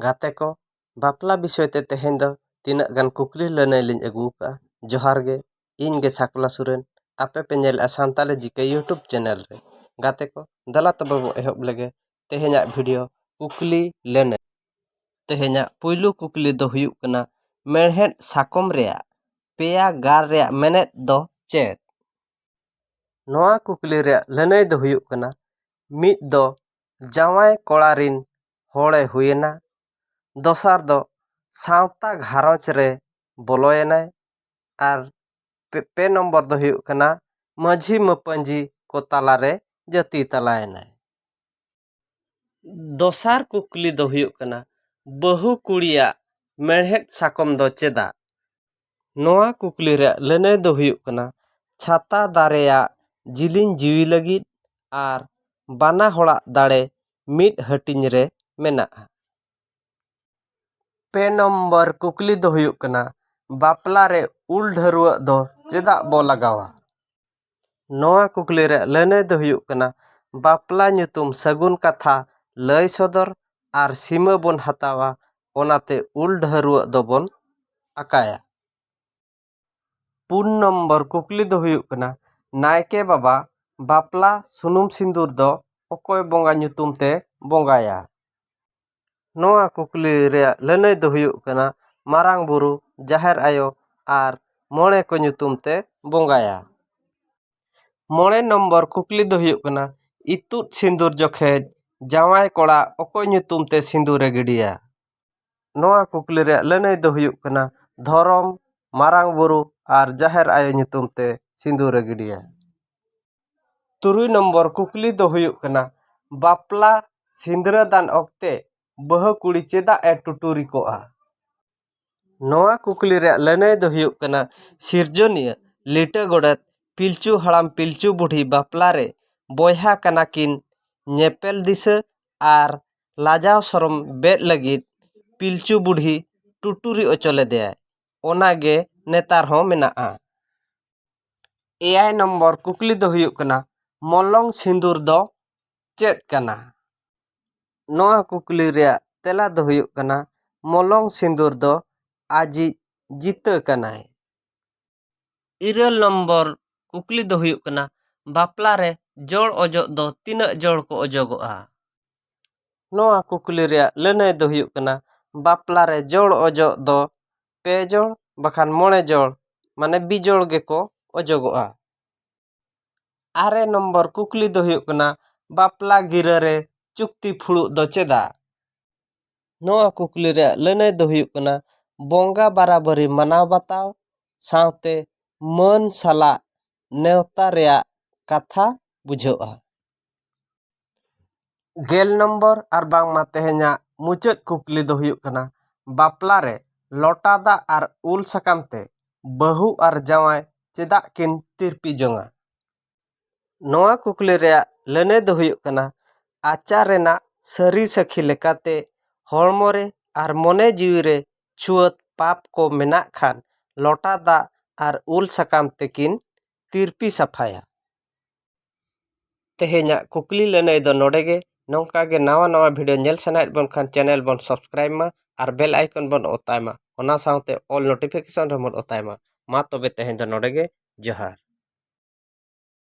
ᱜᱟᱛᱮ ᱠᱚ ᱵᱟᱯᱞᱟ ᱵᱤᱥᱚᱭ ᱛᱮ ᱛᱮᱦᱮᱧ ᱫᱚ ᱛᱤᱱᱟᱹᱜ ᱜᱟᱱ ᱠᱩᱠᱞᱤ ᱞᱟᱹᱱᱟᱹᱭ ᱞᱤᱧ ᱟᱹᱜᱩ ᱟᱠᱟᱫᱼᱟ ᱡᱚᱦᱟᱨ ᱜᱮ ᱤᱧ ᱜᱮ ᱥᱟᱠᱣᱟ ᱥᱚᱨᱮᱱ ᱟᱯᱮ ᱯᱮ ᱧᱮᱞᱮᱫᱼᱟ ᱥᱟᱱᱛᱟᱲᱤ ᱡᱤ ᱠᱮ ᱤᱭᱩᱴᱩᱵᱽ ᱪᱮᱱᱮᱞ ᱨᱮ ᱜᱟᱛᱮ ᱠᱚ ᱫᱮᱞᱟ ᱛᱚᱵᱮ ᱵᱚᱱ ᱮᱦᱚᱵ ᱞᱮᱜᱮ ᱛᱮᱦᱮᱧᱟᱜ ᱵᱷᱤᱰᱤᱭᱳ ᱠᱩᱠᱞᱤ ᱞᱟᱹᱱᱟᱹᱭ ᱛᱮᱦᱮᱧᱟᱜ ᱯᱳᱭᱞᱳ ᱠᱩᱠᱞᱤ ᱫᱚ ᱦᱩᱭᱩᱜ ᱠᱟᱱᱟ ᱢᱮᱬᱦᱮᱫ ᱥᱟᱠᱚᱢ ᱨᱮᱭᱟᱜ ᱯᱮᱭᱟ ᱜᱟᱨ ᱨᱮᱭᱟᱜ ᱢᱮᱱᱮᱫ ᱫᱚ ᱪᱮᱫ ᱱᱚᱣᱟ ᱠᱩᱠᱞᱤ ᱨᱮᱭᱟᱜ ᱞᱟᱹᱱᱟᱹᱭ ᱫᱚ ᱦᱩᱭᱩᱜ ᱠᱟᱱᱟ ᱢᱤᱫ ᱫᱚ ᱡᱟᱶᱟᱭ ᱠᱚᱲᱟ ᱨᱤᱱ ᱦᱚᱲᱮ ᱦᱩᱭᱮᱱᱟ ᱫᱚᱥᱟᱨ ᱫᱚ ᱥᱟᱶᱛᱟ ᱜᱷᱟᱨᱚᱸᱡᱽ ᱨᱮ ᱵᱚᱞᱚᱭᱮᱱᱟᱭ ᱟᱨ ᱯᱮ ᱱᱚᱢᱵᱚᱨ ᱫᱚ ᱦᱩᱭᱩᱜ ᱠᱟᱱᱟ ᱢᱟᱹᱡᱷᱤ ᱢᱟᱹᱯᱟᱹᱡᱷᱤ ᱠᱚ ᱛᱟᱞᱟ ᱨᱮ ᱡᱟᱹᱛᱤ ᱛᱟᱞᱟᱭᱮᱱᱟᱭ ᱫᱚᱥᱟᱨ ᱠᱩᱠᱞᱤ ᱫᱚ ᱦᱩᱭᱩᱜ ᱠᱟᱱᱟ ᱵᱟᱹᱦᱩ ᱠᱩᱲᱤᱭᱟᱜ ᱢᱮᱬᱦᱮᱫ ᱥᱟᱠᱚᱢ ᱫᱚ ᱪᱮᱫᱟᱜ ᱱᱚᱣᱟ ᱠᱩᱠᱞᱤ ᱨᱮᱭᱟᱜ ᱞᱟᱹᱱᱟᱹᱭ ᱫᱚ ᱦᱩᱭᱩᱜ ᱠᱟᱱᱟ ᱪᱷᱟᱛᱟ ᱫᱟᱨᱮᱭᱟᱜ ᱡᱤᱞᱤᱧ ᱡᱤᱣᱤ ᱞᱟᱹᱜᱤᱫ ᱟᱨ ᱵᱟᱱᱟ ᱦᱚᱲᱟᱜ ᱫᱟᱲᱮ ᱢᱤᱫ ᱦᱟᱹᱴᱤᱧ ᱨᱮ ᱢᱮᱱᱟᱜᱼᱟ ᱯᱮ ᱱᱚᱢᱵᱚᱨ ᱠᱩᱠᱞᱤ ᱫᱚ ᱦᱩᱭᱩᱜ ᱠᱟᱱᱟ ᱵᱟᱯᱞᱟ ᱨᱮ ᱩᱞ ᱰᱷᱟᱹᱨᱣᱟᱹᱜ ᱫᱚ ᱪᱮᱫᱟᱜ ᱵᱚ ᱞᱟᱜᱟᱣᱟ ᱱᱚᱣᱟ ᱠᱩᱠᱞᱤ ᱨᱮᱭᱟᱜ ᱞᱟᱹᱱᱟᱹᱭ ᱫᱚ ᱦᱩᱭᱩᱜ ᱠᱟᱱᱟ ᱵᱟᱯᱞᱟ ᱧᱩᱛᱩᱢ ᱥᱟᱹᱜᱩᱱ ᱠᱟᱛᱷᱟ ᱞᱟᱹᱭ ᱥᱚᱫᱚᱨ ᱟᱨ ᱥᱤᱢᱟᱹ ᱵᱚᱱ ᱦᱟᱛᱟᱣᱟ ᱚᱱᱟᱛᱮ ᱩᱞ ᱰᱷᱟᱹᱨᱣᱟᱹᱜ ᱫᱚᱵᱚᱱ ᱟᱠᱟᱭᱟ᱾ ᱯᱩᱱ ᱱᱚᱢᱵᱚᱨ ᱠᱩᱠᱞᱤ ᱫᱚ ᱦᱩᱭᱩᱜ ᱠᱟᱱᱟ ᱱᱟᱭᱠᱮ ᱵᱟᱵᱟ ᱵᱟᱯᱞᱟ ᱥᱩᱱᱩᱢ ᱥᱤᱸᱫᱩᱨ ᱫᱚ ᱚᱠᱚᱭ ᱵᱚᱸᱜᱟ ᱧᱩᱛᱩᱢ ᱛᱮ ᱵᱚᱸᱜᱟᱭᱟ? ᱱᱚᱣᱟ ᱠᱩᱠᱞᱤ ᱨᱮᱭᱟᱜ ᱞᱟᱹᱱᱟᱹᱭ ᱫᱚ ᱦᱩᱭᱩᱜ ᱠᱟᱱᱟ ᱢᱟᱨᱟᱝ ᱵᱩᱨᱩ ᱡᱟᱦᱮᱨ ᱟᱭᱳ ᱟᱨ ᱢᱚᱬᱮ ᱠᱚ ᱧᱩᱛᱩᱢ ᱛᱮ ᱵᱚᱸᱜᱟᱭᱟ ᱢᱚᱬᱮ ᱱᱚᱢᱵᱚᱨ ᱠᱩᱠᱞᱤ ᱫᱚ ᱦᱩᱭᱩᱜ ᱠᱟᱱᱟ ᱤᱛᱩᱫ ᱥᱤᱸᱫᱩᱨ ᱡᱚᱠᱷᱮᱡ ᱡᱟᱶᱟᱭ ᱠᱚᱲᱟ ᱚᱠᱚᱭ ᱧᱩᱛᱩᱢ ᱛᱮ ᱥᱤᱸᱫᱩᱨᱮ ᱜᱤᱰᱤᱭᱟ ᱱᱚᱣᱟ ᱠᱩᱠᱞᱤ ᱨᱮᱭᱟᱜ ᱞᱟᱹᱱᱟᱹᱭ ᱫᱚ ᱦᱩᱭᱩᱜ ᱠᱟᱱᱟ ᱫᱷᱚᱨᱚᱢ ᱢᱟᱨᱟᱝ ᱵᱩᱨᱩ ᱟᱨ ᱡᱟᱦᱮᱨ ᱟᱭᱳ ᱧᱩᱛᱩᱢ ᱛᱮ ᱥᱤᱸᱫᱩᱨᱮ ᱜᱤᱰᱤᱭᱟ ᱛᱩᱨᱩᱭ ᱱᱚᱢᱵᱚᱨ ᱠᱩᱠᱞᱤ ᱫᱚ ᱦᱩᱭᱩᱜ ᱠᱟᱱᱟ ᱵᱟᱯᱞᱟ ᱥᱤᱸᱫᱽᱨᱟᱹᱫᱟᱱ ᱚᱠᱛᱮ ᱵᱟᱹᱦᱩ ᱠᱩᱲᱤ ᱪᱮᱫᱟᱜ ᱮ ᱴᱩᱴᱩᱨᱤ ᱠᱚᱜᱼᱟ ᱱᱚᱣᱟ ᱠᱩᱠᱞᱤ ᱨᱮᱭᱟᱜ ᱞᱟᱹᱱᱟᱹᱭ ᱫᱚ ᱦᱩᱭᱩᱜ ᱠᱟᱱᱟ ᱥᱤᱨᱡᱚᱱᱤᱭᱟᱹ ᱞᱤᱴᱟᱹ ᱜᱚᱰᱮᱛ ᱯᱤᱞᱪᱩ ᱦᱟᱲᱟᱢ ᱯᱤᱞᱪᱩ ᱵᱩᱰᱷᱤ ᱵᱟᱯᱞᱟ ᱨᱮ ᱵᱚᱭᱦᱟ ᱠᱟᱱᱟ ᱠᱤᱱ ᱧᱮᱯᱮᱞ ᱫᱤᱥᱟᱹ ᱟᱨ ᱞᱟᱡᱟᱣ ᱥᱚᱨᱚᱢ ᱵᱮᱫ ᱞᱟᱹᱜᱤᱫ ᱯᱤᱞᱪᱩ ᱵᱩᱰᱷᱤ ᱴᱩᱴᱩᱨᱤ ᱦᱚᱪᱚ ᱞᱮᱫᱮᱭᱟᱭ ᱚᱱᱟᱜᱮ ᱱᱮᱛᱟᱨ ᱦᱚᱸ ᱢᱮᱱᱟᱜᱼᱟ ᱮᱭᱟᱭ ᱱᱚᱢᱵᱚᱨ ᱠᱩᱠᱞᱤ ᱫᱚ ᱦᱩᱭᱩᱜ ᱠᱟᱱᱟ ᱢᱚᱞᱚᱝ ᱥᱤᱸᱫᱩᱨ ᱫᱚ ᱪᱮᱫ ᱠᱟᱱᱟ ᱱᱚᱣᱟ ᱠᱩᱠᱞᱤ ᱨᱮᱭᱟᱜ ᱛᱮᱞᱟ ᱫᱚ ᱦᱩᱭᱩᱜ ᱠᱟᱱᱟ ᱢᱚᱞᱚᱝ ᱥᱤᱸᱫᱩᱨ ᱫᱚ ᱟᱡᱤᱡ ᱡᱤᱛᱟᱹ ᱠᱟᱱᱟᱭ ᱤᱨᱟᱹᱞ ᱱᱚᱢᱵᱚᱨ ᱠᱩᱠᱞᱤ ᱫᱚ ᱦᱩᱭᱩᱜ ᱠᱟᱱᱟ ᱵᱟᱯᱞᱟ ᱨᱮ ᱡᱚᱲ ᱚᱡᱚᱜ ᱫᱚ ᱛᱤᱱᱟᱹᱜ ᱡᱚᱲ ᱠᱚ ᱚᱡᱚᱜᱚᱜᱼᱟ ᱱᱚᱣᱟ ᱠᱩᱠᱞᱤ ᱨᱮᱭᱟᱜ ᱞᱟᱹᱱᱟᱹᱭ ᱫᱚ ᱦᱩᱭᱩᱜ ᱠᱟᱱᱟ ᱵᱟᱯᱞᱟ ᱨᱮ ᱡᱚᱲ ᱚᱡᱚᱜ ᱫᱚ ᱯᱮ ᱡᱚᱲ ᱵᱟᱠᱷᱟᱱ ᱢᱚᱬᱮ ᱡᱚᱲ ᱢᱟᱱᱮ ᱵᱤᱡᱚᱲ ᱜᱮᱠᱚ ᱚᱡᱚᱜᱚᱜᱼᱟ ᱟᱨᱮ ᱱᱚᱢᱵᱚᱨ ᱠᱩᱠᱞᱤ ᱫᱚ ᱦᱩᱭᱩᱜ ᱠᱟᱱᱟ ᱵᱟᱯᱞᱟ ᱜᱤᱨᱟᱹ ᱨᱮ ᱪᱩᱠᱛᱤ ᱯᱷᱩᱲᱩᱜ ᱫᱚ ᱪᱮᱫᱟᱜ ᱱᱚᱣᱟ ᱠᱩᱠᱞᱤ ᱨᱮᱭᱟᱜ ᱞᱟᱹᱱᱟᱹᱭ ᱫᱚ ᱦᱩᱭᱩᱜ ᱠᱟᱱᱟ ᱵᱚᱸᱜᱟ ᱵᱟᱨᱟᱵᱟᱹᱨᱤ ᱢᱟᱱᱟᱣ ᱵᱟᱛᱟᱣ ᱥᱟᱶᱛᱮ ᱢᱟᱹᱱ ᱥᱟᱞᱟᱜ ᱱᱮᱣᱛᱟ ᱨᱮᱭᱟᱜ ᱠᱟᱛᱷᱟ ᱵᱩᱡᱷᱟᱹᱜᱼᱟ ᱜᱮᱞ ᱱᱚᱢᱵᱚᱨ ᱟᱨ ᱵᱟᱝᱢᱟ ᱛᱮᱦᱮᱧᱟᱜ ᱢᱩᱪᱟᱹᱫ ᱠᱩᱠᱞᱤ ᱫᱚ ᱦᱩᱭᱩᱜ ᱠᱟᱱᱟ ᱵᱟᱯᱞᱟ ᱨᱮ ᱞᱚᱴᱟ ᱫᱟᱜ ᱟᱨ ᱩᱞ ᱥᱟᱠᱟᱢ ᱛᱮ ᱵᱟᱹᱦᱩ ᱟᱨ ᱡᱟᱶᱟᱭ ᱪᱮᱫᱟᱜ ᱠᱤᱱ ᱛᱤᱨᱯᱤ ᱡᱚᱝᱟ ᱱᱚᱣᱟ ᱠᱩᱠᱞᱤ ᱨᱮᱭᱟᱜ ᱞᱟᱹᱱᱟᱹᱭ ᱫᱚ ᱦᱩᱭᱩᱜ ᱠᱟᱱᱟ ᱟᱪᱟᱨ ᱨᱮᱱᱟᱜ ᱥᱟᱹᱨᱤ ᱥᱟᱹᱠᱷᱤ ᱞᱮᱠᱟᱛᱮ ᱦᱚᱲᱢᱚ ᱨᱮ ᱟᱨ ᱢᱚᱱᱮ ᱡᱤᱣᱤ ᱨᱮ ᱪᱷᱩᱣᱟᱹᱛ ᱯᱟᱯ ᱠᱚ ᱢᱮᱱᱟᱜ ᱠᱷᱟᱱ ᱞᱚᱴᱟ ᱫᱟᱜ ᱟᱨ ᱩᱞ ᱥᱟᱠᱟᱢ ᱛᱮᱠᱤᱱ ᱛᱤᱨᱯᱤ ᱥᱟᱯᱷᱟᱭᱟ ᱛᱮᱦᱮᱧᱟᱜ ᱠᱩᱠᱞᱤ ᱞᱟᱹᱱᱟᱹᱭ ᱫᱚ ᱱᱚᱰᱮ ᱜᱮ ᱱᱚᱝᱠᱟ ᱜᱮ ᱱᱟᱣᱟ ᱱᱟᱣᱟ ᱵᱷᱤᱰᱤᱭᱳ ᱧᱮᱞ ᱥᱟᱱᱟᱭᱮᱫ ᱵᱚᱱ ᱠᱷᱟᱱ ᱪᱮᱱᱮᱞ ᱵᱚᱱ ᱥᱟᱵᱥᱠᱨᱟᱭᱤᱵᱽ ᱢᱟ ᱟᱨ ᱵᱮᱞ ᱟᱭᱠᱚᱱ ᱵᱚᱱ ᱚᱛᱟᱭ ᱢᱟ ᱚᱱᱟ ᱥᱟᱶᱛᱮ ᱚᱞ ᱱᱳᱴᱤᱯᱷᱤᱠᱮᱥᱚᱱ ᱨᱮᱦᱚᱸ ᱵᱚᱱ ᱚᱛᱟᱭ ᱢᱟ ᱢᱟ ᱛᱚᱵᱮ ᱛᱮᱦᱮᱧ ᱫᱚ ᱱᱚᱰᱮ ᱜᱮ ᱡᱚᱦᱟᱨ